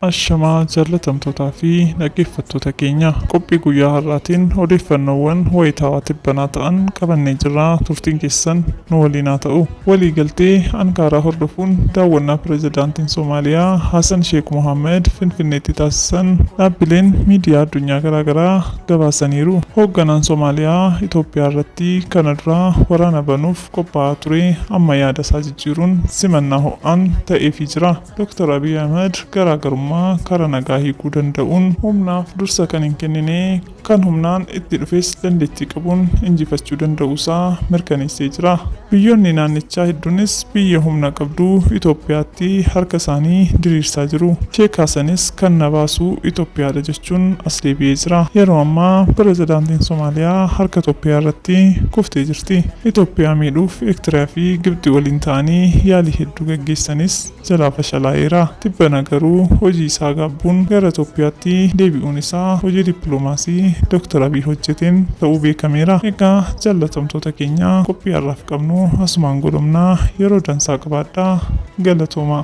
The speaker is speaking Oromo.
Ashamaa jaalatamtootaa fi dhaggeeffattoota keenya qophii guyyaa har'aatiin odeeffannoowwan wayitaawaa tibbanaa ta'an qabannee jirra turtiin keessan nu waliin haa ta'u. Waliigaltee Ankaaraa hordofuun daawwannaa Pirezidaantiin Somaaliyaa Hasan Sheek Mohaammad Finfinneetti taasisan dhaabbileen miidiyaa addunyaa garaagaraa gabaasaniiru. Hoogganaan Somaaliyaa Itoophiyaarratti kana dura waraana banuuf qophaa'aa ture amma yaadasaa jijjiiruun simannaa ho'aan ta'eefii jira. Doktar Abiy Ahimad garaagarummaa karaa nagaa hiikuu danda'uun humnaaf dursa kan hin kennine kan humnaan itti dhufes dandeettii qabuun injifachuu danda'uu isaa mirkaneessee jira. Biyyoonni naannichaa hedduunis biyya humna qabdu Itoophiyaatti harka isaanii diriirsaa jiru. Sheekaa sanis kan na baasu Itoophiyaadha jechuun as deebi'ee jira. Yeroo ammaa Pirezidaantiin Somaaliyaa harka Itoophiyaa irratti kuftee jirti. Itoophiyaa miidhuuf Ektiriyaa fi Gibxi waliin ta'anii yaalii hedduu gaggeessanis jalaa fashalaa'eera. Tibbana garuu hojii isaa gaabbuun gara Itoophiyaatti deebi'uun isaa hojii dippilomaasii Doktar Abiy hojjeteen ta'uu beekameera. Egaa jaallatamtoota keenya qophii har'aaf qabnu asumaan golomna. Yeroo dansaa qabaadhaa. Galatoomaa.